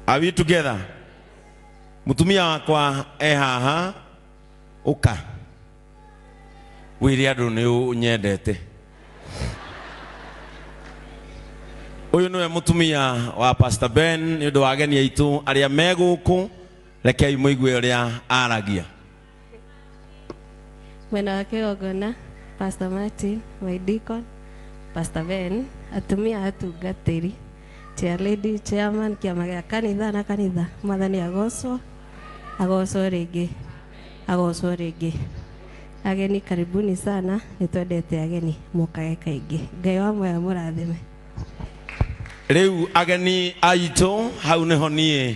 Are we together? Mutumia wakwa e haha uka wire andu ni unyendete uyu niwe mutumia wa Pastor Ben ni undu wa ageni aitu aria me guku rekei muigue uria aragia mwena wa kĩgongona pastor martin my deacon pastor ben atumia atungatĩri chair lady chairman kĩama gĩa kanitha na kanitha mwathani agocwo agocwo rĩngĩ agocwo rĩngĩ ageni karibuni sana nĩ twendete ageni mũkage kaingĩ ngai wa moya mũrathime rĩu ageni aitũ hau nĩho niĩ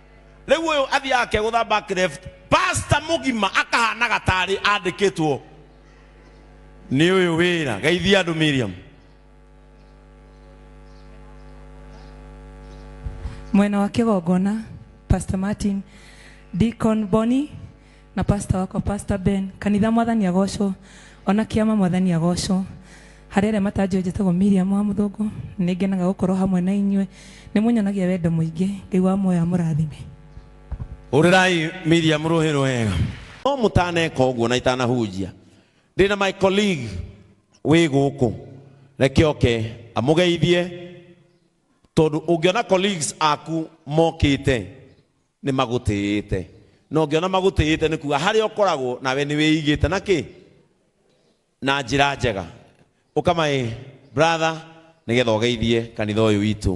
rĩu ũyũ athiaga akegũtha back left pasta mũgima akahanaga tarĩ andĩkĩtwo nĩ ũyũ wĩra geithia andũ miriam mwena wa kĩgongona pastor martin deacon boni na pastor wakwa pastor ben kanitha mwathani agocwo ona kĩama mwathani agocwo harĩ arĩa matanjũĩ njĩtagwo miriam wa mũthũngũ nĩ ngenaga gũkorwo hamwe na inyuĩ nĩ mũnyonagia wendo mũingĩ ngai wa muoyo amũrathime hũrĩrai miriam rũhĩ rwega no mũtaneka ũguo na itanahunjia ndĩ na my colleague wĩ gũkũ reke oke amũgeithie tondũ ũngĩona colleagues aku mokĩte Nĩ magũtĩĩte. Na ũngĩona magũtĩĩte nĩ kuga harĩa ũkoragwo nawe nĩ wĩigĩte na kĩ? Na njĩra njega. Ũka my brother nĩ getha ũgeithie kanitha ũyũ witũ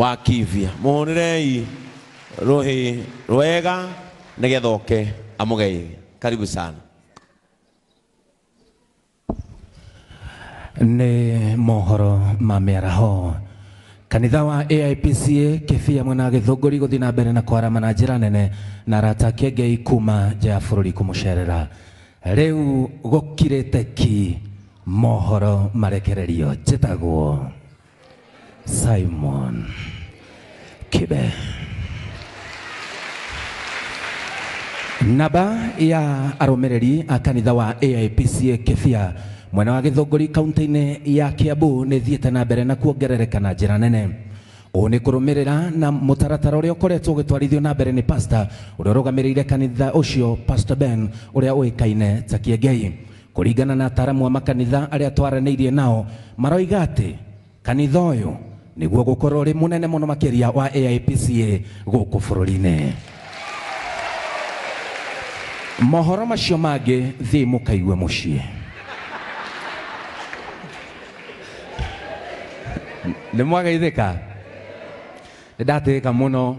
wa Kivia. Mũhũrĩrei rũhĩ rwega nĩ getha oke amũgeithie. Karibu sana. Nĩ mohoro ma mĩaraho kanitha wa AIPCA kĩbia mwena wa gĩthũngũri gũthiĩ na mbere na kwarama na njĩra nene na arata ake ngei kuma nja ya bũrũri kũmũcerera rĩu gũkirĩte ki mohoro marekererio njĩtagwo Simon Kibe. Naba ya aromereri a kanitha wa AIPCA Kĩbia mwena wa Gĩthũngũri kaunti-inĩ ya Kiambu nĩ thiĩte na mbere na kuongerereka na njĩra nene ũũ nĩ kũrũmĩrĩra na mũtaratara ũrĩa ũkoretwo ũgĩtwarithio na mbere nĩ pasta ũrĩa ũrũgamĩrĩire kanitha ũcio Pastor Ben ũrĩa ũĩkaine ta Kĩengei Kũringana na ataaramu a makanitha arĩa twaranĩirie nao, maroiga atĩ kanitha ũyũ nĩguo ũgũkorwo ũrĩ mũnene mũno makĩria wa AIPCA gũkũ bũrũri-inĩ. Mohoro macio mangĩ thiĩ mũkaigue mũciĩ. Nĩ mwageithĩka? Nĩ ndatĩĩka mũno.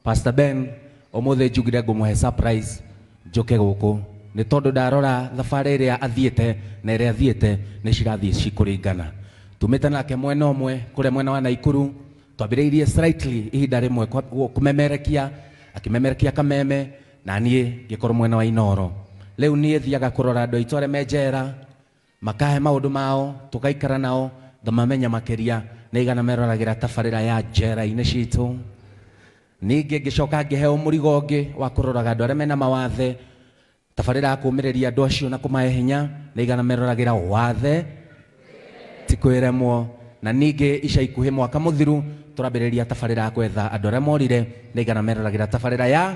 Pastor Ben umuthi njugire ngumuhe surprise njuke guku ni tondu ndarora thabari iria athiite na iria thiite ni cirathie cikuringana tumite nake mwena umwe kuria mwena wa Naikuru twambiriirie slightly ihinda rimwe kwa- gu- kumemerekia akimemerekia kameme na nie ngikorwo mwena wa Inoro riu nie thiaga kurora andu aitu aria me njera Makahe maũndũ mao, tũgaikara nao, ngamamenya makĩria, nĩ igana meroragĩra tabarĩra ya Njera-inĩ Citũ. Ningĩ ngĩcoka ngĩheo mũrigo ũngĩ wa kũroraga andũ arĩa mena mawathe, tabarĩra ya kũũmĩrĩria andũ acio na kũmahe hinya, nĩ igana meroragĩra Wathe Ti Kwĩremwo. Na ningĩ ica ikuhĩ mwaka mũthiru tũrambĩrĩria tabarĩra ya gwetha andũ arĩa morire, nĩ igana meroragĩra tabarĩra ya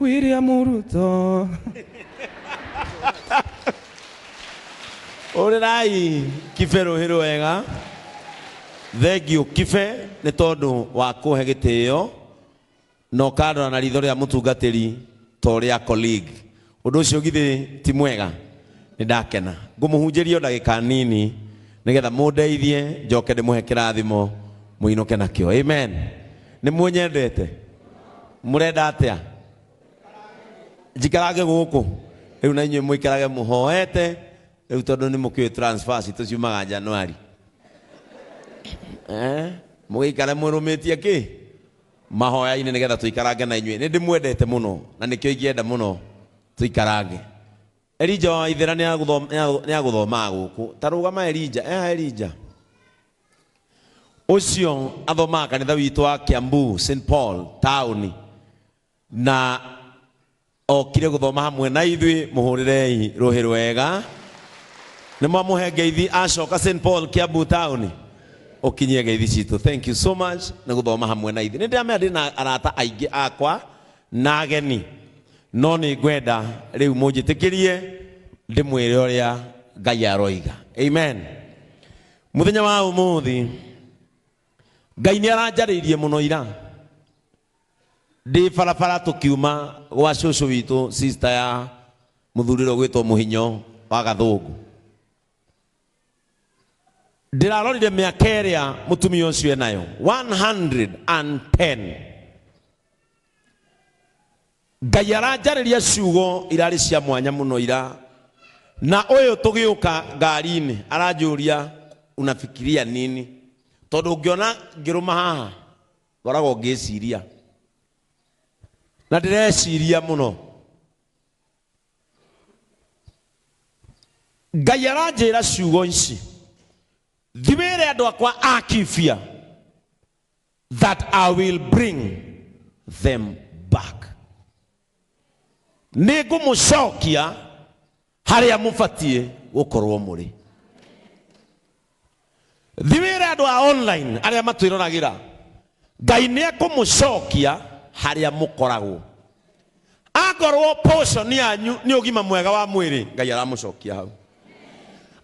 William Ruto. Ũrĩrai kibe rũhĩ wega thengiũ kibe nĩ tondũ wa kũhe gĩtĩo na ũkandora na ritho rĩa mũtungatĩri ta ũrĩa colleague Ũndũ ũcio githĩ ti mwega? Nĩ ndakena. Ngũmũhunjĩria o ndagĩka nini nĩgetha mũndeithie njoke ndĩmũhe kĩrathimo mũinũke nakĩo. Amen. Nĩ mũnyendete? Mũrenda atĩa? Njikarage gũkũ. Rĩu na inyuĩ mũikarage mũhoete. Rĩu tondũ nĩ mũkĩũĩ transfer citũ ciumaga Januari. Eh? Mũgĩikare mũrũmĩtie kĩ? Mahoya-inĩ nĩgetha tũikarange na inyuĩ. Nĩndĩmwendete mũno na nĩkĩo ingĩenda mũno tũikarange. Elija wa Waithera nĩagũthomaa gũkũ. Ta rũgama Elija, eha Elija. Ũcio athomaga kanitha witũ wa Kiambu St Paul taũni na okire gũthoma hamwe na ithuĩ mũhũrĩrei rũhĩ rwega nĩ mwamũhe ngeithi acoka st paul kiambu town ũkinyie ngeithi citũ thank you so much nĩ gũthoma hamwe na ithuĩ nĩ ndĩramenya ndĩ na arata aingĩ akwa na ageni no nĩ ngwenda rĩu mũnjĩtĩkĩrie ndĩmwĩre ũrĩa ngai aroiga amen mũthenya wa ũmũthĩ ngai nĩ aranjarĩirie mũno ira ndĩ barabara tũkiuma gwa cũcũ witũ sister ya mũthurĩro gwĩtwo mũhinyo wa gathũngũ ndĩrarorire mĩaka ĩrĩa mũtumia ũcio enayo 110 ngai aranjarĩria ciugo irarĩ cia mwanya mũno ira na ũyũ tũgĩũka ngari-inĩ aranjũria unafikiria nini tondũ ngĩona ngĩrũma haha ngoragwo ngĩciria na ndĩreciria mũno ngai aranjĩra ciugo ici thiwĩre andũ akwa akibia that i will bring them back nĩ ngũmũcokia harĩa mũbatiĩ gũkorwo mũrĩ thi wĩra andũ a online arĩa matwĩroragĩra ngai nĩ ekũmũcokia harĩa mũkoragwo akorwo portion yanyu nĩ ũgima mwega wa mwĩrĩ ngai aramũcokia hau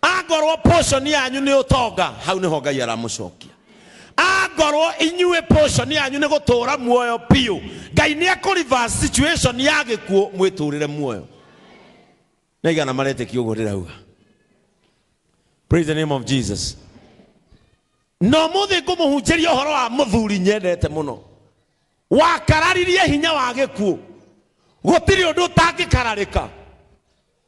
angorwo portion yanyu nĩ ũtonga hau nĩho ngai aramũcokia angorwo inyuĩ portion yanyu nĩ gũtũũra muoyo biũ ngai nĩ ekũriva situation ya gĩkuũ mwĩtũũrĩre muoyo nĩ aigana maretĩkia ũguo ndĩrauga praise the name of jesus na ũmũthĩ ngũmũhunjĩria ũhoro wa mũthuri nyendete mũno wakararirie hinya wa gĩkuũ gũtirĩ ũndũ ũtangĩkararĩka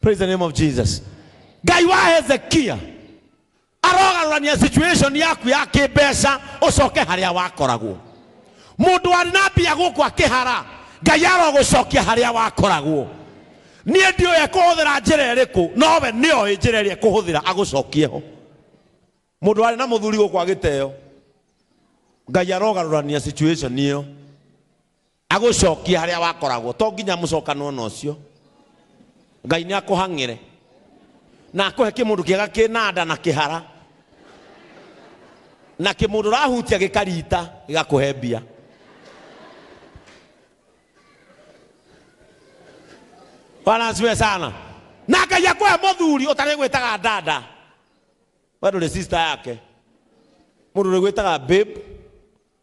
praise the name of jesus ngai wa hezekia arogarũrania situation yaku ya kĩmbeca ũcoke harĩa wakoragwo mũndũ warĩ na mbia gũkũ akĩhara ngai arogũcokia harĩa wakoragwo niĩ ndiũĩ kũhũthĩra njĩra ĩrĩkũ nowe nĩoĩ njĩra ĩrĩa kũhũthĩra agũcokie ho mũndũ warĩ na mũthuri gũkũ agĩteo ngai arogarũrania situation ĩyo agũcokie harĩa wakoragwo to nginya mũcokano ona ũcio ngai nĩ akũhang'ĩre na akũhe kĩmũndũ kĩega kĩna nda na kĩhara na kĩmũndũ ũrahutia gĩkarita gĩgakũhe mbia bwana asifiwe sana na ngai akũhe mũthuri ũtarĩ gwĩtaga dada we ndũrĩ sister yake mũndũ ũrĩ gwĩtaga babe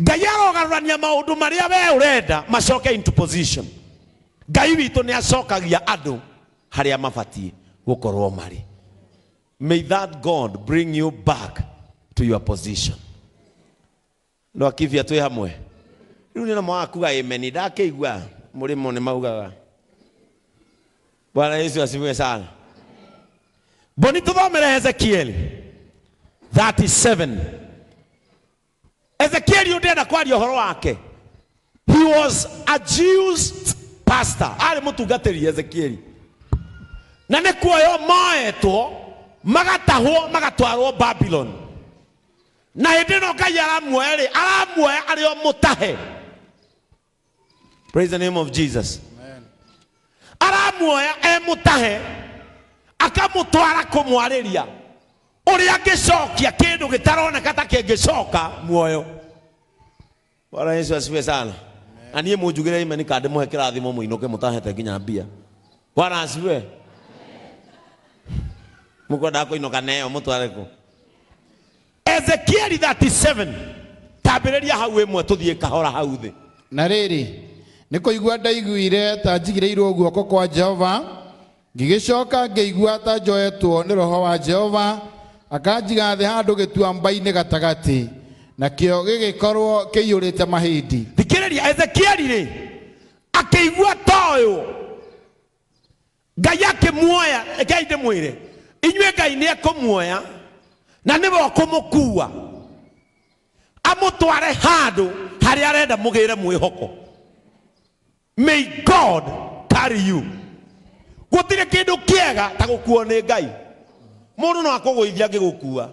Ngai arogarũrania maũndũ marĩa we ũrenda macoke into position. Ngai witũ nĩ acokagia andũ harĩa mabatiĩ gũkorwo marĩ. May that God bring you back to your position. No akibia twĩ hamwe. Rĩu nĩ na mwakuga amen ndakĩigua mũrĩmo nĩ maugaga. Bwana Yesu asifiwe sana. Mboni tũthomere Hezekieli 37 ezekieli ndenda kwaria horo wake he was a jews pastor arĩ mũtungatĩri ezekieli na nĩ kuoyo moetwo magatahwo magatwarwo babylon na hĩndĩ ĩno ngai aramuoya rĩ aramuoya arĩ o mũtahe praise the name of jesus aramuoya emũtahe akamũtwara kũmwarĩria ũrĩa angĩcokia kĩndũ gĩtaroneka ta kĩngĩcoka muoyo bwana yesu asifiwe sana na niĩ mũnjugĩre imeni ka ndĩmũhe kĩrathimo mũinũke mũtahete nginya mbia bwana asifiwe mũkwendaga kũinũka neyo mũtware kũ ezekieli 37 tambĩrĩria hau ĩmwe tũthiĩ kahora hau thĩ na rĩrĩ nĩ kũigua ndaiguire ta njigĩrĩirwo guoko kwa jehova ngĩgĩcoka ngĩigua ta njoetwo nĩ roho wa jehova akanjiga thĩ handũ gĩtuamba-inĩ gatagatĩ nakĩo gĩgĩkorwo kĩiyũrĩte mahĩndĩ thikĩrĩria ezekieli rĩ akĩigua ta ũyũ Ngai akĩmuoya, rekei ndĩmwĩre, inyuĩ Ngai nĩ ekũmuoya na nĩwe ũkũmũkuua amũtware handũ harĩa arenda mũgĩre mwĩhoko. May God carry you. Gũtirĩ kĩndũ kĩega ta gũkuo nĩ Ngai. Mũndũ no akũgũithia angĩgũkuua.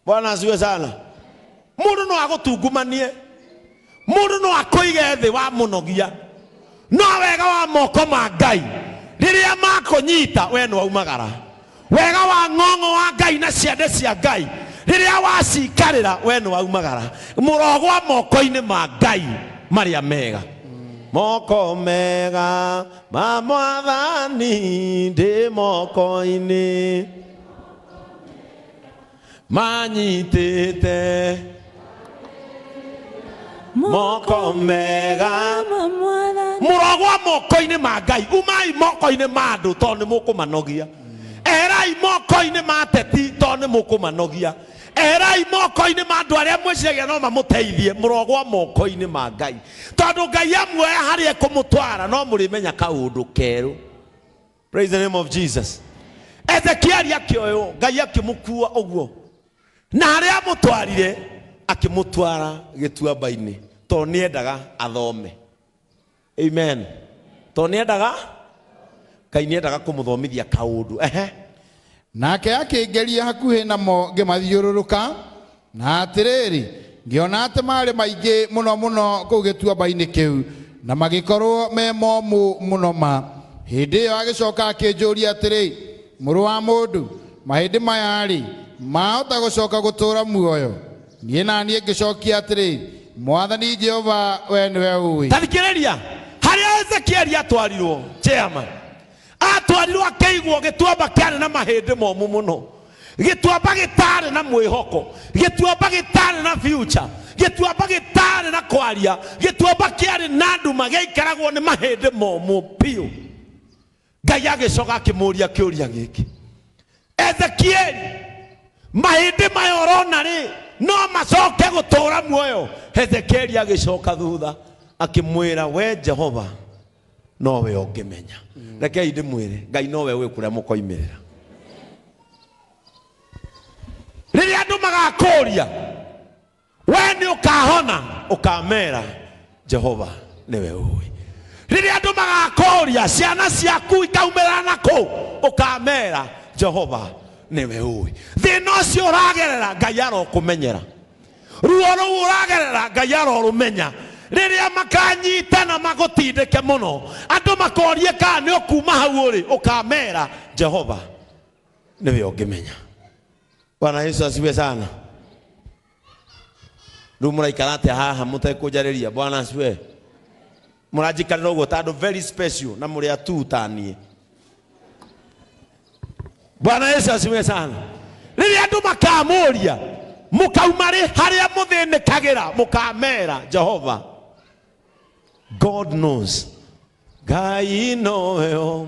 bwana asiwe sana mundu no agutungumanie mundu no akuige thi wa munogia no wega wa moko ma ngai riria makunyita we no aumagara wega wa ng'ong'o wa ngai na ciande cia ngai riria wacikarira we no aumagara murogwa moko-ini ma ngai maria mega moko mega ma mwathani ndi moko-ini manyitĩte moko mega ma mwathani mũrogwa moko-inĩ ma ngai umai moko-inĩ ma andũ tondũ nĩ mũkũmanogia erai moko-inĩ ma ateti tondũ nĩ mũkũmanogia erai moko-inĩ ma andũ arĩa mwĩciragia no mamũteithie mũrogwa moko-inĩ ma ngai tondũ ngai amuoya harĩa ekũmũtwara no mũrĩmenya kaũndũ kerũ Praise the name of Jesus. Ezekieli akĩoywo Ngai akĩmũkua ũguo na harĩa amũtwarire akĩmũtwara gĩtuamba-inĩ tondũ nĩendaga athome. Amen. Tondũ nĩendaga Ngai nĩendaga kũmũthomithia kaũndũ. Ehe. Nake akĩngeria hakuhĩ namo ngĩmathiũrũrũka, Na atĩrĩrĩ, ngĩona atĩ maarĩ maingĩ mũno mũno kũu gĩtuamba-inĩ kĩu, na magĩkorũo me momũ mũno ma. Hĩndĩ ĩyo agĩcoka akĩnjũria atĩrĩ, Mũrũ wa mũndũ, mahĩndĩ maya-rĩ, maahota gũcoka gũtũũra muoyo? Niĩ na niĩ ngĩcokia atĩrĩ, Mwathani Jehova, wee nĩwe ũĩ. Ta thikĩrĩria harĩa Ezekieli aatwarirũo, Chairman. Aatwarirwo akĩigwo gĩtuamba kĩarĩ na mahĩndĩ momũ mũno, gĩtuamba gĩtaarĩ na mwĩhoko, gĩtuamba gĩtaarĩ na future, gĩtuamba gĩtaarĩ na kwaria, gĩtuamba kĩarĩ na nduma gĩaikaragwo nĩ mahĩndĩ momũ biũ. Ngai agĩcoka akĩmũũria kĩũria gĩkĩ, Ezekieli, mahĩndĩ maya ũrona rĩ, no macoke gũtũũra muoyo? Ezekieli agĩcoka thutha akĩmwĩra, We Jehova, nowe ũngĩmenya rekei ndĩmwĩre ngai nowe ũĩ kũrĩa mũkoimĩrĩra rĩrĩa andũ magakũria we nĩ ũkahona ũkamera jehova nĩwe ũĩ rĩrĩa andũ magakũria ciana ciaku ikaumĩra na kũu ũkamera jehova nĩwe ũĩ thĩna ũcio ũragerera ngai arokũmenyera Ruo rũu ũragerera Ngai arorũmenya. Rĩrĩa makanyitana magũtindĩke mũno, andũ makorie kana nĩ ũkuuma hau ũrĩ, ũkamera, Jehova nĩwe ũngĩmenya. Bwana Yesu asifiwe sana. Rĩu mũraikara atĩa haha mũtekũnjarĩria? Bwana asifiwe. Mũranjikarĩra ũguo ta andũ very special na mũrĩ atuu ta niĩ. Bwana Yesu asifiwe sana. Rĩrĩa andũ makamũria mũkauma rĩ harĩa mũthĩnĩkagĩra mũkamera Jehova. God knows. Ngai noyo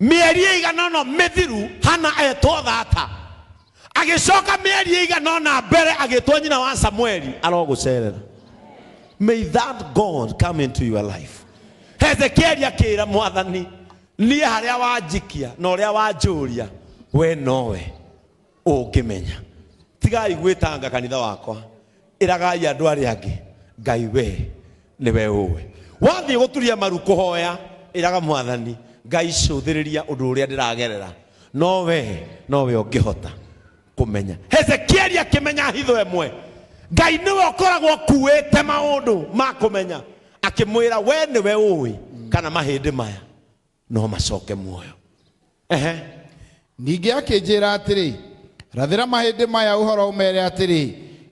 mĩeri ĩigana ũna mĩthiru hana etwo thata agĩcoka mĩeri ĩigana ũna mbere agĩtwo nyina wa samueli arogũcerera may that god come into your life hezekieli akĩra mwathani niĩ harĩa wanjikia na ũrĩa wanjũria we nowe ũngĩmenya tigai gwĩtanga kanitha wakwa ĩragai andũ arĩa angĩ ngai wee nĩwe ũwe wathiĩ gũturia maru kũhoya ĩraga mwathani ngai cũthĩrĩria ũndũ ũrĩa ndĩragerera no wee nowe ũngĩhota kũmenya hezekieli akĩmenya hitho ĩmwe ngai nĩwe ũkoragwo ũkuĩte maũndũ ma kũmenya akĩmwĩra we nĩwe ũĩ kana mahĩndĩ maya no macoke muoyo ehe ningĩ akĩnjĩra atĩrĩ rathĩra mahĩndĩ maya ũhoro ũmere atĩrĩ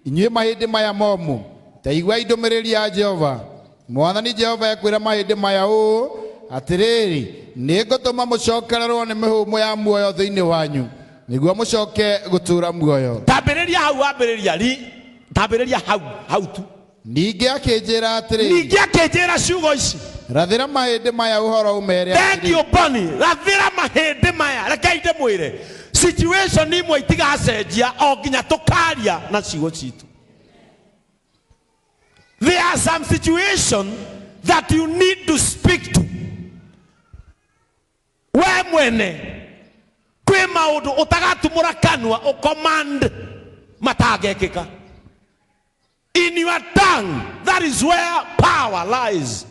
inyuĩ mahĩndĩ maya momũ ta iguai ndũmĩrĩri ya jehova mwathani jehova ekwĩra mahĩndĩ maya ũũ atĩrĩrĩ nĩngũtũma mũcokererwo nĩ mĩhũmũ ya muoyo thĩinĩ wanyu nĩguo mũcoke gũtũũra muoyo tambĩrĩria hau wambĩrĩria ri tambĩrĩria hau hau tu ningĩ akĩnjĩra atĩrĩ ningĩ akĩnjĩra ciugo ici rathĩra mahĩndĩ maya ũhoro ũmere atĩrĩ thank you boni rathĩra mahĩndĩ maya rekei ndĩmwĩre situation imwe itigacenjia o nginya tũkaria na ciugo citũ there are some situation that you need to speak to we mwene kwĩ maũndũ ũtagatumũra kanua ũcommand matangekĩka in your tongue that is where power lies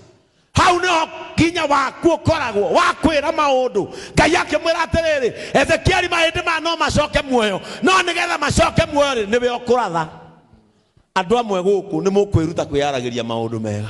hau nĩho hinya waku ũkoragwo wa kwĩra maũndũ ngai akĩmwĩra atĩrĩrĩ ezekieli mahĩndĩ ma no macoke muoyo no nĩgetha macoke muoyo rĩ nĩwe ũkũratha andũ amwe gũkũ nĩ mũkwĩruta kwĩyaragĩria maũndũ mega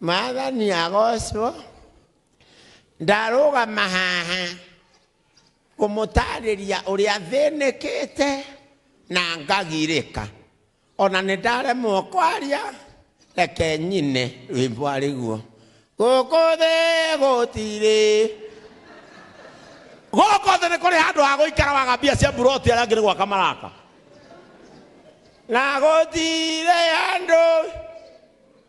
mwathani agocwo ndarũgama haha kũmũtarĩria ũrĩa thĩnĩkĩte na ngagirĩka ona nĩ ndaremwo kwaria reke nyine rwĩmbo arĩguo gũkũ thĩ gũtirĩ gũkũ thĩ nĩ kũrĩ handũ ha gũikara waga mbia cia mburoti arĩa angĩ nĩ gwaka maraka na gũtirĩ handũ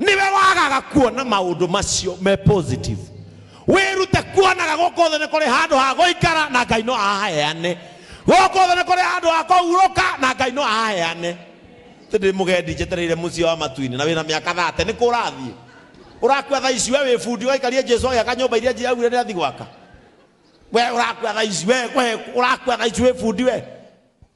nĩwe wagaga kuona maũndũ macio me positive wĩrute kuonaga gũkũ thĩ nĩ kũrĩ handũ ha gũikara na ngai no ahaheane gũkũ thĩ nĩ kũrĩ handũ ha kũhurũka na ngai no ahaheane tä ndä må gendi njetereire må ciä wa matuinä na wä na mä aka thate nä kå rathiä å rakua tha ici we wä bundi å gaikarie jesu agä aka nyå mba iria njiragwire nä athi gwaka we å rakua tha ici we we å rakua tha ici wä bundi we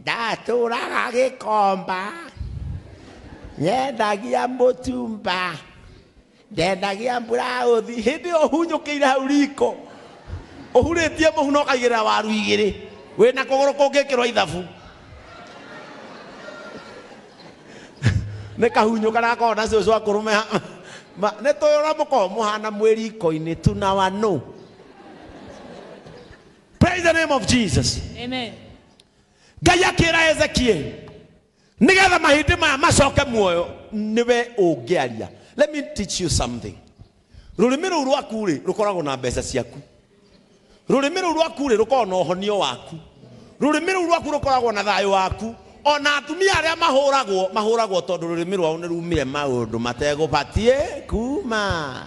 ndatũraga gĩkomba nyendagia mũtumba nyendagia mburaũthi hĩndĩ ĩyo hunyũkĩire hau riko ũhurĩtie mũhu na ũkaigĩrĩra waru igĩrĩ wĩ na kũgũrũ kũngĩkĩrwo ithabu nĩ kahunyũka na gakorwo na cũcũ akũrũme nĩ tũyũra mũkorwo mũhana mwĩ riko-inĩ tunawa nũ Praise the name of Jesus. Amen. ngai akĩra hezekieli nĩgetha mahĩndĩ maya macoke muoyo nĩwe ũngĩaria let me teach you something rũrĩmĩ rũu rwaku rĩ rũkoragwo na mbeca ciaku rũrĩmĩ rũu rwaku rĩ rũkoragwo na ũhonio waku rũrĩmĩ rũu rwaku rũkoragwo na thayũ waku ona atumia arĩa mahũragwo mahũragwo tondũ rũrĩmĩ rwao nĩ rumire maũndũ mategũbatiĩ kuma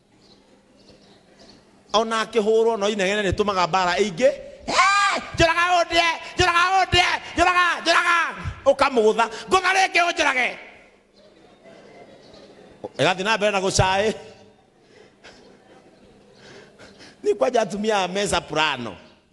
ona akĩhũrwo no inegene rĩtũmaga mbara ĩingĩ "Eh, njũraga ũndĩe njũraga ũndĩe njũraga njũraga ũkamũgũtha ngũtha rĩngĩ ũnjũrage ĩgathiĩ na mbere na gũcaĩ ni kwanja atumia a mesa purano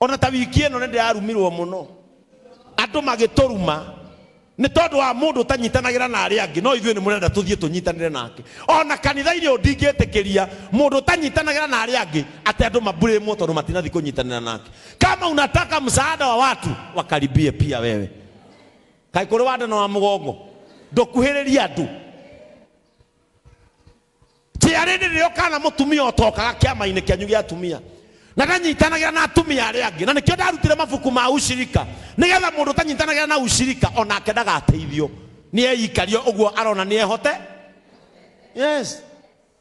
O na ta wiki ĩno nĩ ndĩrarumirũo mũno. Andũ magĩtũruma. Nĩ tondũ wa mũndũ ũtanyitanagĩra na arĩa angĩ, no ithuĩ nĩ mũrenda tũthiĩ tũnyitanĩre nake. O na kanitha-inĩ ũyũ ndingĩtĩkĩria mũndũ ũtanyitanagĩra na arĩa angĩ atĩ andũ mambulĩmwo tondũ matinathiĩ kũnyitanĩra nake. Kama unataka msaada wa watu, wakaribie pia wewe. Kaĩ kũrĩ wa nda na wa mũgongo? Ndũkuhĩrĩrie andũ. njĩra rĩrĩ rĩokaga na mũtumia ũtokaga kĩama-inĩ kĩanyu gĩa atumia na ndanyitanagĩra na atumia arĩa angĩ na nĩkĩo ndarutire mabuku ma ushirika nĩgetha mũndũ ũtanyitanagĩra na ushirika onake ndagateithio nĩ eikarie ũguo arona nĩ ehote yes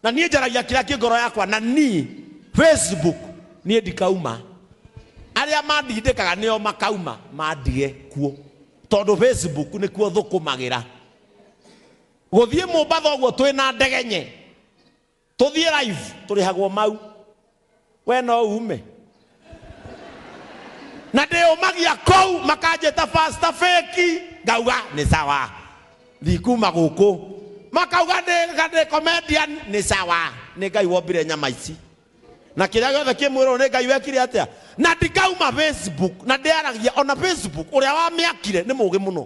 na niĩ njaragia kĩrĩa kĩ ngoro yakwa na niĩ facebook niĩ ndikauma arĩa mandindĩkaga nĩo makauma mandige kuo tondũ facebook nĩkuo thũkũmagĩra Gũthiĩ Mombasa ũguo twĩ na ndege nye tũthiĩ live tũrĩhagwo mau we no ume na ndĩyũmagia kũu makanjĩta pasta feki ngauga nĩ sawa ndikuma gũkũ makauga ndĩ ndĩ comedian nĩ sawa nĩ ngai wombire nyama ici na kĩrĩa gĩothe kĩ mwĩrwo nĩ ngai wekire atĩa na ndikauma facebook na ndĩaragia ona facebook ũrĩa wamĩakire nĩ mũgĩ mũno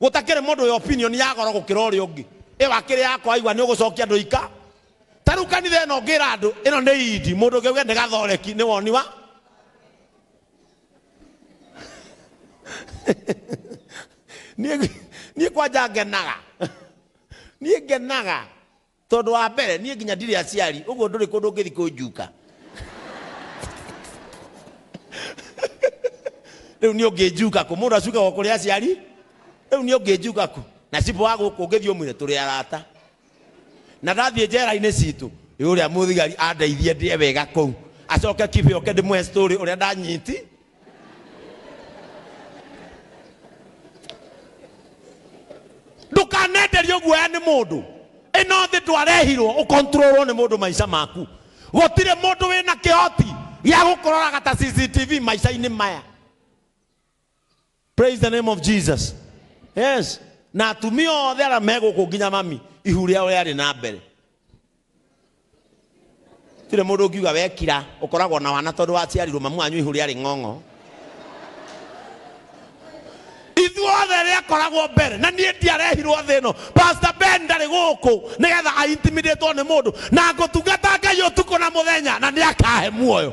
Gũtakĩrĩ mũndũ wĩ opinion ya goro gũkĩra ũrĩa ũngĩ. Ĩyo akĩrĩ yakwa waigua nĩ ũgũcokia ndũika. Ta rĩu kanitha ĩno ũngĩra andũ ĩno nĩ Idi mũndũ ũngĩ auge nĩ gathoreki nĩ woni wa niĩ niĩ kwanja ngenaga niĩ ngenaga Tondũ wa mbere niĩ nginya ndirĩ aciari ũguo ndũrĩ kũndũ ũngĩthi kũnjuka. Rĩu niĩ ũngĩnjuka kũ? Mũndũ acukagwo kũrĩ aciari? Rĩu niĩ ũngĩnjuka kũ? Na cibũ wa gũkũ ũngĩthiĩ ũmwĩre tũrĩ arata. Na ndathiĩ njera-inĩ citũ, ĩ ũrĩa mũthigari andeithie ndĩe wega kũu, acoke kibe oke ndĩmũhe story ũrĩa ndanyiti. ndũkanenderio guoya nĩ mũndũ ĩno thĩ ndwarehirwo ũkontrolwo nĩ mũndũ maica maku gũtirĩ mũndũ wĩna kĩhoti gĩa gũkũroraga ta cctv maica-inĩ maya praise the name of jesus yes na atumia othe arĩa megũkũ nginya mami ihu rĩao rĩarĩ na mbere tirĩ mũndũ ũngiuga wekira ũkoragwo na wana tondũ waciarirwo mamu wanyu ihu rĩarĩ ng'ong'o ithuothe rĩakoragwo mbere na niĩ ndiarehirwo thĩ ĩno pastor ben ndarĩ gũkũ nĩgetha aintimidĩtwo nĩ mũndũ na ngũtungata ngai ũtukũ na mũthenya na nĩakahe muoyo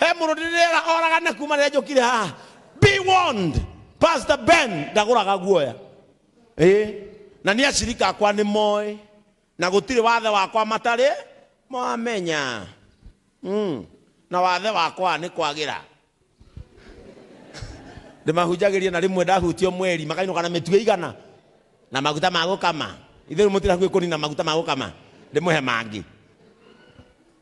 he mũndũ ndĩrĩera oragane kuma rĩrĩa njũkire haha be warned pastor ben ndagũraga guoya ĩ na nĩ acirika akwa nĩ moĩ na gũtirĩ wathe wakwa matarĩ mamenya mm. na wathe wakwa nĩ kwagĩra ndĩmahunjagĩrie na rĩmwe ndahutio mweri makainũka na mĩtue igana na maguta ma gũkama ithe rĩu mũtira hakuhĩ kũnina maguta ma gũkama ndĩmũhe mangĩ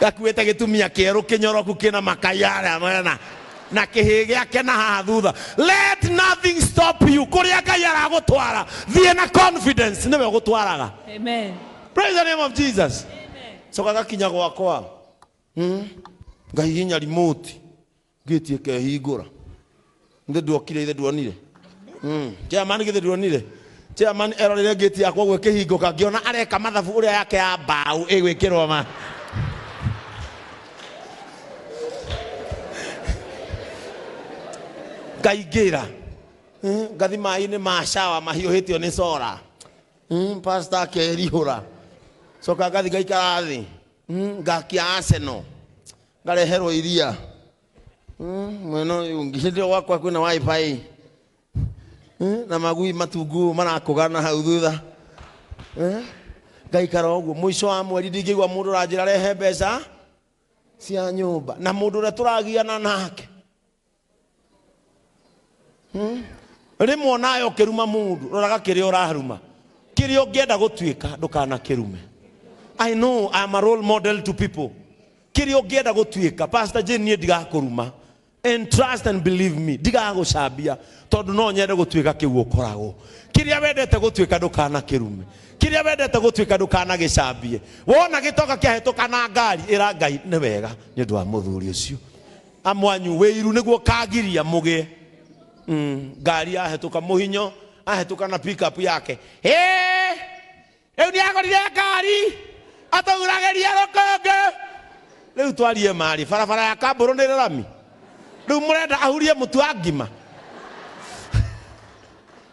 gakuĩte gĩtumia kĩerũ kĩnyoroku kĩna makayara mena na kĩhĩ gĩake na haha thutha let nothing stop you kũrĩa ngai aragũtwara thiĩ na confidence nĩwe ũgũtwaraga Amen. praise the name of jesus coka gakinya gwakwa Hmm? ngai hinya remote ngĩti ĩkehingũra nĩ nduokire ithe nduonire Mm. chairman githĩ nduonire chairman erorire ngĩti yakwa ũguo ĩkĩhingũka ngĩona areka mathabu ũrĩa yake ya mbaũ ĩgwĩkĩrwo ma ngaingĩra Eh, ngathi maĩ-inĩ ma shawa mahiũhĩtio nĩ cora Mm, pastor akerihũra coka ngathi ngaikara thĩ Mm, ngakia arsenal ngareherwo iria Mm, mwena ũyũ ũngĩ hĩndĩ ĩyo gwakwa kwĩna wifi Mm, na magui matungu marakũgana hau thutha Eh, ngaikara ũguo mũico wa mweri ndingĩigua mũndũ ũranjĩra rehe mbeca cia nyũmba na mũndũ ũrĩa tũragiana nake rĩmwe onayo ũkĩruma mũndũ roraga kĩrĩa ũraruma kĩrĩa ũngĩenda gũtuĩka ndũkanakĩrume i know I am a role model to people kĩrĩa ũngĩenda gũtuĩka pastor jane niĩ ndigakũruma and trust and believe me ndigagũcambia tondũ no nyende gũtuĩka kĩu ũkoragwo kĩrĩa wendete gũtuĩka ndũkanakĩrume kĩrĩa wendete gũtuĩka ndũkanagĩcambie wona gĩtoka kĩahĩtũka na ngari ĩra ngai nĩ wega nĩ ũndũ wa mũthuri ũcio Amwanyu wĩiru nĩguo ũkagiria mũgĩe mm, ngari yahetũka mũhinyo ahetũka na pick up yake Hĩĩ! rĩu nĩagorire ngari atũguragĩria rũkũngũ rĩu twarie marĩ barabara ya kambũrũ nĩ rami rĩu mũrenda ahurie mũtu wa ngima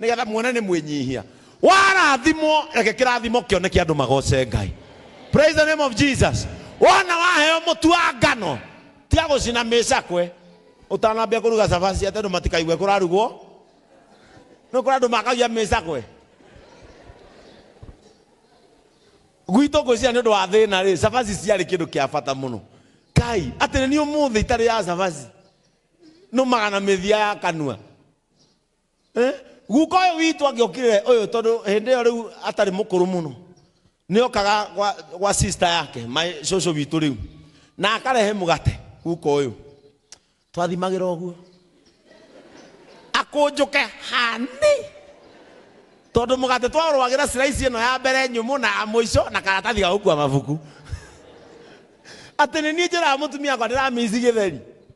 Nĩgetha muone nĩ mwĩnyihia. Warathimwo reke kĩrathimo kĩoneke andũ magoce Ngai. Praise the name of Jesus. Wona waheo mũtu wa ngano tiga gũcina mĩcakwe ũtanambia kũruga cabaci atĩ andũ matikaigue kũrarugwo. Nĩ kũrĩ andũ makagia mĩcakwe. Gwitũ ngwĩciria nĩ ũndũ wa thĩna rĩ, cabaci ciarĩ kĩndũ kĩa bata mũno. Kai atĩ nĩ ũmũthĩ itarĩ ya cabaci nũmaga na mĩthia ya kanua. Eh, guka ũyũ witũ angĩokire ũyũ tondũ hĩndĩ ĩyo rĩu atarĩ mũkũrũ mũno nĩ okaga gwa, gwa sister yake my cũcũ witũ rĩu na akarehe mũgate guka ũyũ twathimagĩra ũguo akũnjũke hani tondũ mũgate twarũagĩra slice ĩno ya mbere nyũmũ na ya mũico na karatathi ga gũkua mabuku atĩ nĩ niĩ njĩraga mũtumia akwa ndĩramĩici gĩtheri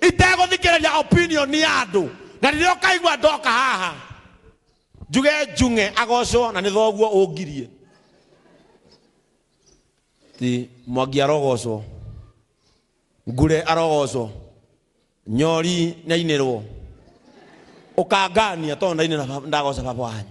itegũthikĩrĩria opinion ya andũ na rĩrĩa ũkaigua ndoka haha njuge njung'e agocwo na nĩ thoguo ũngirie ti mwangi arogocwo ngure arogocwo nyori nĩ ainĩrwo ũkangania tondũ ndainĩra ndagoca baba wanyu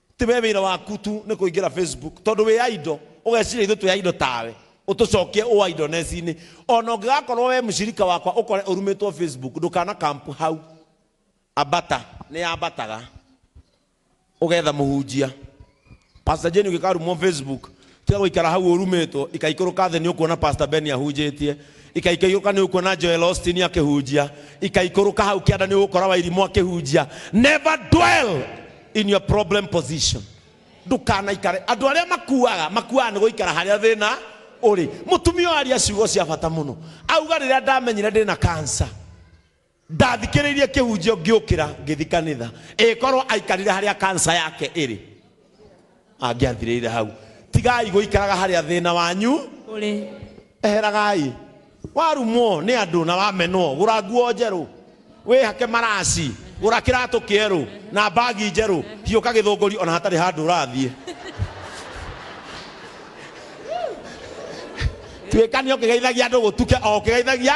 Ti we wĩra waku tu nĩ kũingĩra Facebook tondũ wĩ idol ũgeciria ithuĩ twĩ idol tawe. Ũtũcokie ũ idleness-inĩ. O na ũngĩgakorwo we mshirika wakwa ũkore ũrumĩtwo Facebook ndũkana camp hau. Ambata, nĩ ambataga. Ũgetha mũhunjia. Pastor Jane ũngĩkarumwo Facebook, Tiga gũikara hau ũrumĩtwo, ikaikũrũka thĩ nĩũkuona Pastor Ben ahunjĩtie, ikaikũrũka nĩũkuona Joel Austin akĩhunjia, ikaikũrũka hau kĩanda nĩũgũkora Wairimũ akĩhunjia. Never dwell in your problem position. Ndũkanaikare. Andũ arĩa makuaga, makuaga nĩ gũikara harĩa thĩna ũrĩ. Mũtumia ũyũ aria ciugo cia bata mũno. Auga rĩrĩa ndamenyire ndĩna cancer, Ndathikĩrĩirie kĩhunjio ngĩũkĩra ngĩthi kanitha. Ĩgĩkorwo aikarire harĩa cancer yake ĩrĩ. Angĩathirĩire hau. Tigai gũikaraga harĩa thĩna wanyu Ũrĩ. Eheragai. Warumwo nĩ andũ na wamenwo, gũra nguo njerũ, wĩhake maraci, gũra kĩratũ kĩerũ na mbagi njerũ, hiũka Gĩthũngũri o na hatarĩ handũ ũrathiĩ. Tuĩka nĩ ũkĩgeithagia andũ gũtuke o ũkĩgeithagia.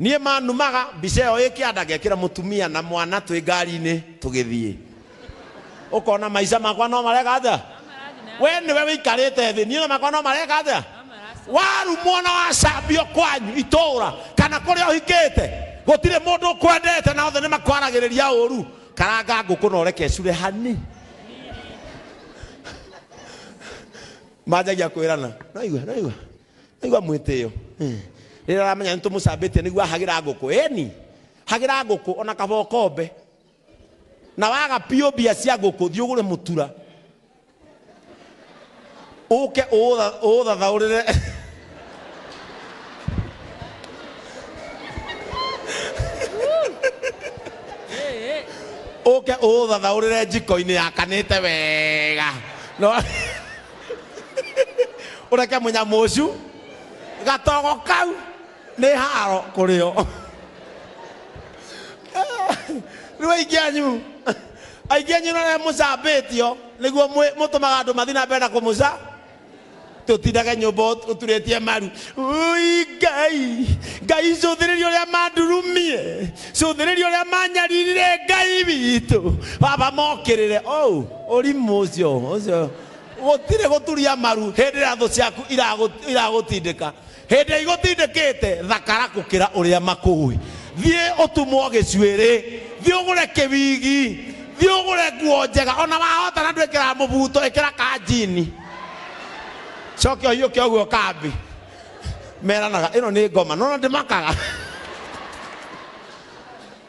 Niĩ manumaga mbica ĩyo ĩ kĩanda ngekĩra mũtumia na mwana twĩ ngari-inĩ tũgĩthiĩ. Ũkona maica makwa no mareka atĩa? Wee nĩwe wĩikarĩte thĩ, niĩ na makwa no mareka atĩa? Warumwo na wacambio kwanyu itũũra kana kũrĩa ũhikĩte, gũtirĩ mũndũ ũkwendete na othe nĩmakwaragĩrĩria ũũru. Karanga ngũkũ na ũreke ĩcure hani. Manjagia kwĩrana, nĩwaigua, nĩwaigua. aigua mwĩtĩo rĩrĩa aramenya nĩ tũmũcambĩtie nĩguo ahagĩra ngũkũ ĩni hagĩra ngũkũ ona kaba ũkombe na waga biũ mbia cia ngũkũ thiĩ ũgũre mũtura ũke ũũtha- ũũthathaũrĩre ũke ũũthathaũrĩre njiko-inĩ yakanĩte wega no ureke munyamo ucu gatogo kau ni haro kurio riu aingi anyu aingi anyu nare mucambitio niguo mutumaga andu mathi na mbere na kumuca tutindage nyumba uturitie maru ui ngai ngai cuthiriria uria mandurumie cuthiriria uria manyaririre ngai witũ baba mokĩrĩre oh ũrimũ ũcio ũcio Gũtirĩ gũturia maru hĩndĩ ĩrĩa thũ ciaku iragũtindĩka. Hĩndĩ ĩrĩa igũtindĩkĩte, thakara gũkĩra ũrĩa makũũĩ. Thiĩ ũtumwo gĩcuĩrĩ, thiĩ ũgũre kĩwigi, thiĩ ũgũre nguo njega, o na wahota na ndwĩkĩraga mũbuto, ĩkĩra ka njini. Coke ũhiũke ũguo kambĩ. Meranaga, ĩno nĩ ngoma. Nĩ wona ndĩmakaga?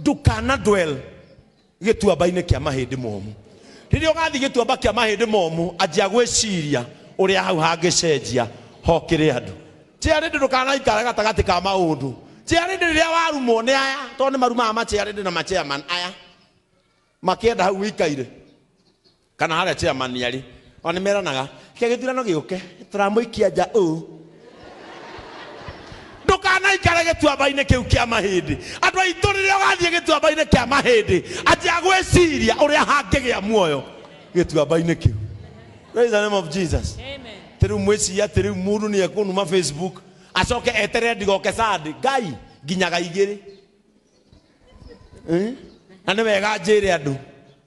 ndũkana dwell gĩtuamba-inĩ kĩa mahĩndĩ momũ rĩrĩa ũgathiĩ gĩtuamba kĩa mahĩndĩ momũ anjia gwĩciria ũrĩa hau hangĩcenjia hokĩre andũ Chairlady ndũkanaikare gatagatĩ ka maũndũ Chairlady rĩrĩa warumwo nĩ aya tondũ nĩ marumaga ma Chairlady na ma Chairman aya makĩenda hau ũikaire Kana harĩa chairman arĩ. Ona nĩ meranaga, reke gĩthurano gĩũke, tũramũikia nja ũũ. Ndũkanaikare gĩtuamba-inĩ kĩu kĩa mahĩndĩ. Andũ aitũ rĩrĩa ũgathiĩ gĩtuamba-inĩ kĩa mahĩndĩ, anjia gwĩciria ũrĩa hangĩgĩa muoyo gĩtuamba-inĩ kĩu. Praise the name of Jesus. Atĩ rĩu mwĩcirie atĩ rĩu mũndũ nĩ ekũnuma Facebook, acoke eterere ndigoke Sunday. Ngai, nginyaga igĩrĩ. Eh? Na nĩ wega njĩre andũ.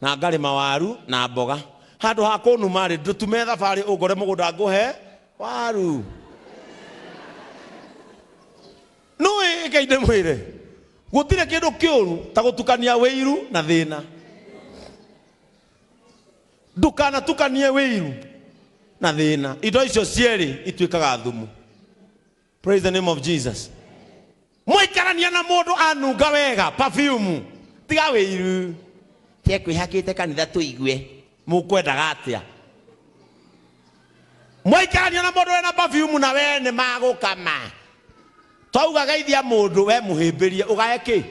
Na ngarĩma waru na mboga. Handũ ha kũnuma-rĩ, ndũtume thabarĩ ũngore mũgũnda ngũhe waru. Nũĩ, rekei ndĩmwĩre, gũtirĩ kĩndũ kĩũru ta gũtukania wĩiru na thĩna. Ndũkanatukanie wĩiru na thĩna. Indo icio cierĩ ituĩkaga thumu. praise the name of jesus mwaikarania na mũndũ anunga wega perfume tiga wĩiru tekwĩhakĩte kanitha tũigue mũkwendaga atĩa mwaikarania na mũndũ wĩna perfume na wee nĩ magũkama twauga geithia mũndũ we mũhĩmbĩrie ũgae kĩ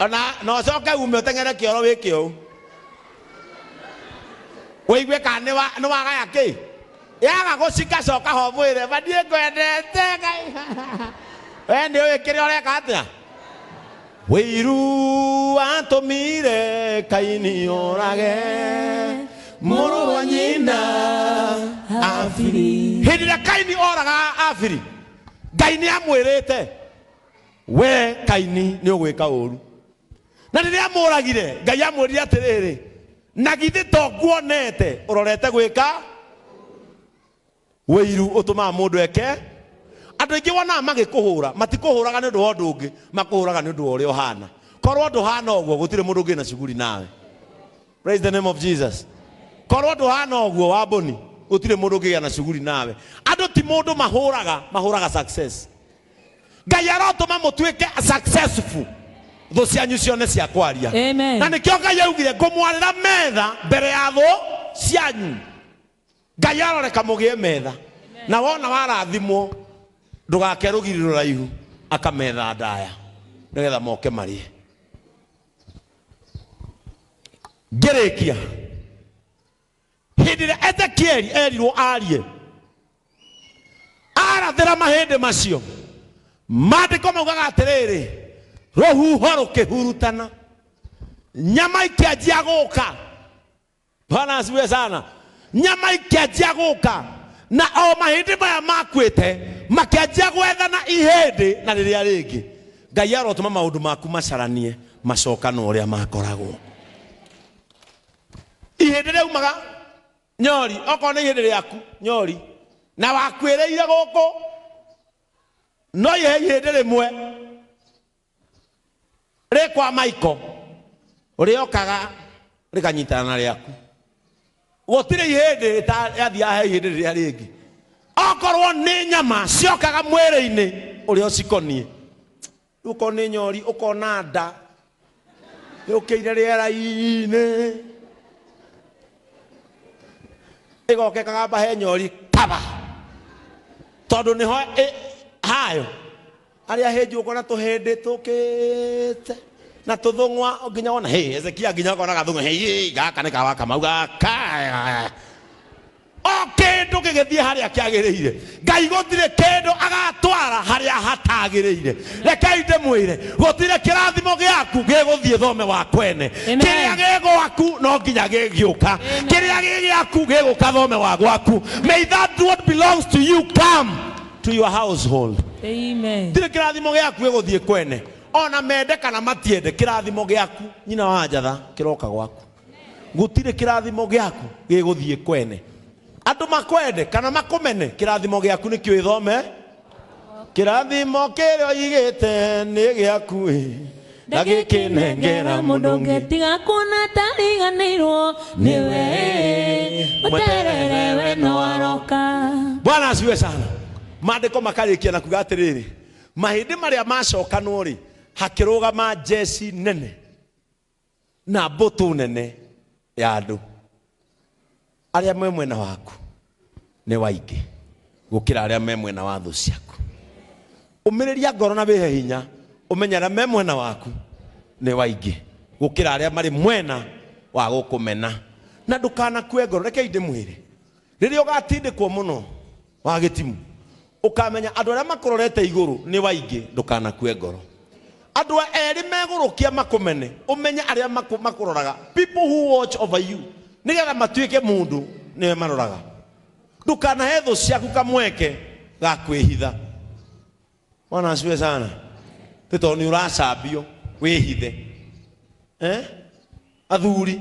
ona na ũcoke ume ũteng'ere kĩoro wĩke ũũ wĩigue kana nĩ wa- nĩ wagaya kĩ Yaga gũcika coka ho mwĩre ma ndiĩkwendete Ngai we nĩ ũĩ kĩrĩa ũreka atĩa? Wĩiru watũmire Kaini orage mũrũ wa nyina Abiri. Hĩndĩ ĩrĩa Kaini oraga Abiri, Ngai nĩ amwĩrĩte we Kaini nĩ ũgwĩka ũru. na rĩrĩa amũragire ngai amwĩrire atĩrĩrĩ na githĩ to nguonete ũrorete gwĩka wĩiru ũtũmaga mũndũ eke andũ aingĩ wonaga magĩkũhũra matikũhũraga nĩ ũndũ wa ũndũ ũngĩ makũhũraga nĩ ũndũ wa ũrĩa ũhana korwo ndũhana ũguo gũtirĩ mũndũ ũngĩ na shughuli nawe praise the name of jesus korwo ndũhana ũguo wa mbũni gũtirĩ mũndũ ũngĩgĩa na shughuli nawe andũ ti mũndũ mahũraga mahũraga success ngai arotũma mũtuĩke successful thũ cianyu cione cia kwaria Amen. na nĩkĩo ngai augire ngũmwarĩra metha mbere ya thũ cianyu ngai aroreka mũgĩe metha na wona warathimwo ndũgake rũgiri rũraihu akametha ndaya nĩgetha moke marĩe ngĩrĩkia hĩndĩ ĩrĩa ezekieli erirwo arie arathĩra mahĩndĩ macio maandĩko maugaga atĩrĩrĩ rũhuho rũkĩhurutana nyama ikĩanjia gũka bwana asiwe sana nyama ikĩanjia gũka na o mahĩndĩ maya makuĩte makĩanjia gwethana ihĩndĩ na rĩrĩa rĩngĩ ngai arotũma maũndũ maku macaranie macokana ũrĩa makoragwo ihĩndĩ rĩaumaga nyori okorwo nĩ ihĩndĩ rĩaku nyori na wakuĩrĩire gũkũ no ihe ihĩndĩ rĩmwe rĩ kwa maiko rĩokaga rĩkanyitana na rĩaku gũtirĩ ihĩndĩ rĩtathiaga he ihĩndĩ rĩrĩa rĩngĩ okorwo nĩ nyama ciokaga mwĩrĩ-inĩ ũrĩa ũcikoniĩ Uko nĩ nyori ũkona nda yũkĩire rĩera-inĩ ĩgoke kagamba he nyori kaba tondũ nĩho ĩ- hayo arĩa hĩnju ũkona tũhĩndĩ tũkĩte na tũthũng'wa nginya wona hĩ ezekia nginya ũkona gathũng'wa hĩ gaka nĩ kawa kamau gaka O kĩndũ gĩgĩthiĩ harĩa kĩagĩrĩire. Ngai gũtirĩ kĩndũ agatwara harĩa hatagĩrĩire. Rekei ndĩmwĩre, gũtirĩ kĩrathimo gĩaku gĩgũthiĩ thome wa kwene. Amen. Kĩrĩa gĩ gwaku no nginya gĩgĩũka. Amen. Kĩrĩa gĩ gĩaku gĩgũka thome wa gwaku. May that what belongs to you come to your household. Amen. Tirĩ kĩrathimo gĩaku gĩgũthiĩ kwene. Ona mende kana matiende, kĩrathimo gĩaku, nyina wa njatha, kĩroka gwaku. gũtirĩ kĩrathimo gĩaku gĩgũthiĩ kwene andũ makwende kana makũmene kĩrathimo gĩaku nĩkĩo ĩthome kĩrathimo kĩrĩa ũigĩte nĩ gĩaku ĩ na gĩkĩnengera mũndũ ũngĩ tiga kuona tariganĩirwo nĩwe ũterere we no aroka bwana asiwe sana maandĩko makarĩkia na kuga atĩrĩrĩ mahĩndĩ marĩa macokanwo rĩ hakĩrũgama njeci nene na mbũtũ nene ya andũ arĩa me mwena waku nĩ waingĩ gũkĩra arĩa me mwena wa thũ ciaku ũmĩrĩria ngoro na wĩhe hinya ũmenye arĩa me mwena waku nĩ waingĩ gũkĩra arĩa marĩ mwena wa gũkũmena na ndũkanakue ngoro rekei ndĩmwĩre rĩrĩa ũgatindĩkwo mũno Wa gĩtimũ. Ũkamenya andũ arĩa makũrorete igũrũ nĩ waingĩ, ndũkanakue ngoro. Andũ a erĩ megũrũkia makũmene, ũmenye arĩa makũ, makũroraga, people who watch over you, nĩgetha matuĩke mũndũ nĩwe maroraga. Ndũkanahe thũ ciaku kamweke ga kwĩhitha. Bwana asifiwe sana. Nĩ tondũ nĩ ũracambio wĩhithe. Eh? Athuri,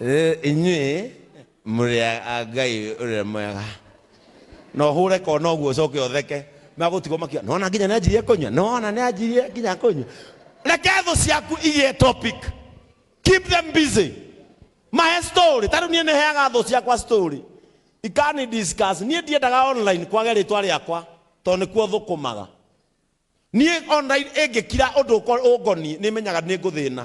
Rĩu inyuĩ mũrĩ a a Ngai ũrĩa mwega. Na ũhũre kona ũguo ũcoke ũtheke. Magũtigwo makiuga, nĩwona nginya nĩanjirie kũnyua, nĩwona nĩanjirie nginya kũnyua. Reke thũ ciaku igĩe topic. Keep them busy. Mahe story. Ta rĩu niĩ nĩheaga thũ ciakwa story. Ikani discuss. Niĩ ndiendaga online kwage rĩtwa rĩakwa tondũ nĩkuo thũkũmaga. Niĩ online ĩngĩkira ũndũ ũko- ũngoniĩ nĩmenyaga nĩngũthĩna.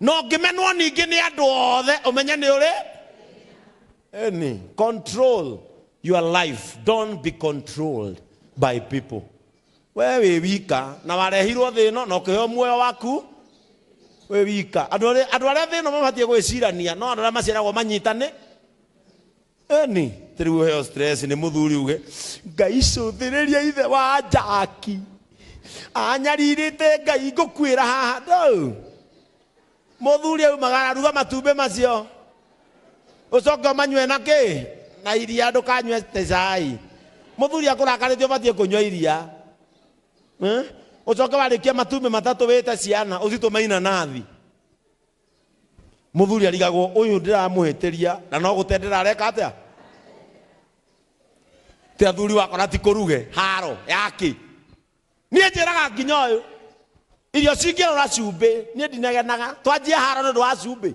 no ngĩmenwo ningĩ nĩ andũ othe ũmenye nĩ ũrĩ Eni, control your life don't be controlled by people we wĩ wika na warehirwo thĩ ĩno na ũkĩheo muoyo waku wĩ wika andũ arĩa andũ arĩa thĩ ĩno mabatiĩ gwĩcirania no andũ arĩa maciaragwo manyitane Eni, ti riu uheo stress ni muthuri uge ngai cuthiriria ithe wa njaki anyaririte ngai ngukwira haha ndau muthuri aumaga araruga matumbi macio ucoke umanywe na ki na iria ndukanywe te cai muthuri akurakarite ubatie kunywa iria Eh? ucoke warikia matumbi matatu wite ciana ucitume inanathi muthuri arigagwo uyu ndiramuhitiria na no gute ndirareka atia ti athuri wakona ti kuruge haro yaki nie njiraga nginya uyu irio cingirora cumbi nie ndinagenaga twanjie haro ni ndu wa cumbi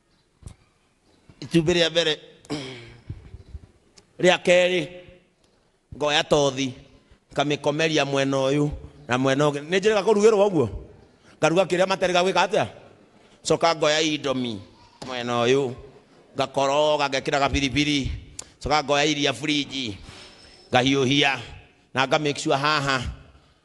itumbĩ rĩa mbere rĩa kerĩ ngoya tothi ngamĩkomeria mwena ũyũ na mwena ũngĩ nĩ njĩrĩga kũrugĩrwo ũguo ngaruga kĩrĩa matarĩ gagwĩka atĩa coka ngoya indomi mwena ũyũ ngakoroga ngekĩra gabiribiri coka ngoya iria fridge ngahiũhia na nga make sure haha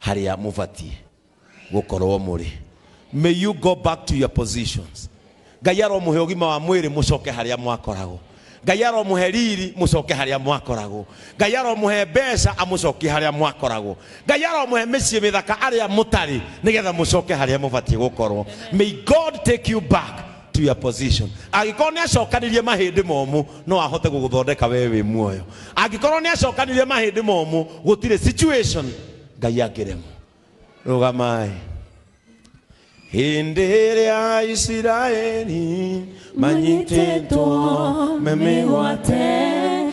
harĩa mũbatiĩ gũkorwo mũrĩ may you go back to your positions ngai aromũhe ũgima wa mwĩrĩ mũcoke harĩa mwakoragwo ngai aromũhe riri mũcoke harĩa mwakoragwo ngai aromũhe mbeca amũcokie harĩa mwakoragwo ngai aromũhe mĩciĩ mĩthaka arĩa mũtarĩ nĩgetha mũcoke harĩa mũbatiĩ gũkorwo may god take you back to your position angĩkorwo nĩ acokanirie mahĩndĩ momũ no ahote gũgũthondeka wee wĩ muoyo angĩkorwo nĩ acokanirie mahĩndĩ momũ gũtirĩ situation ngai angĩremwo rũgamaĩ hĩndĩ ĩrĩa isiraeli manyitĩtwo memĩgwate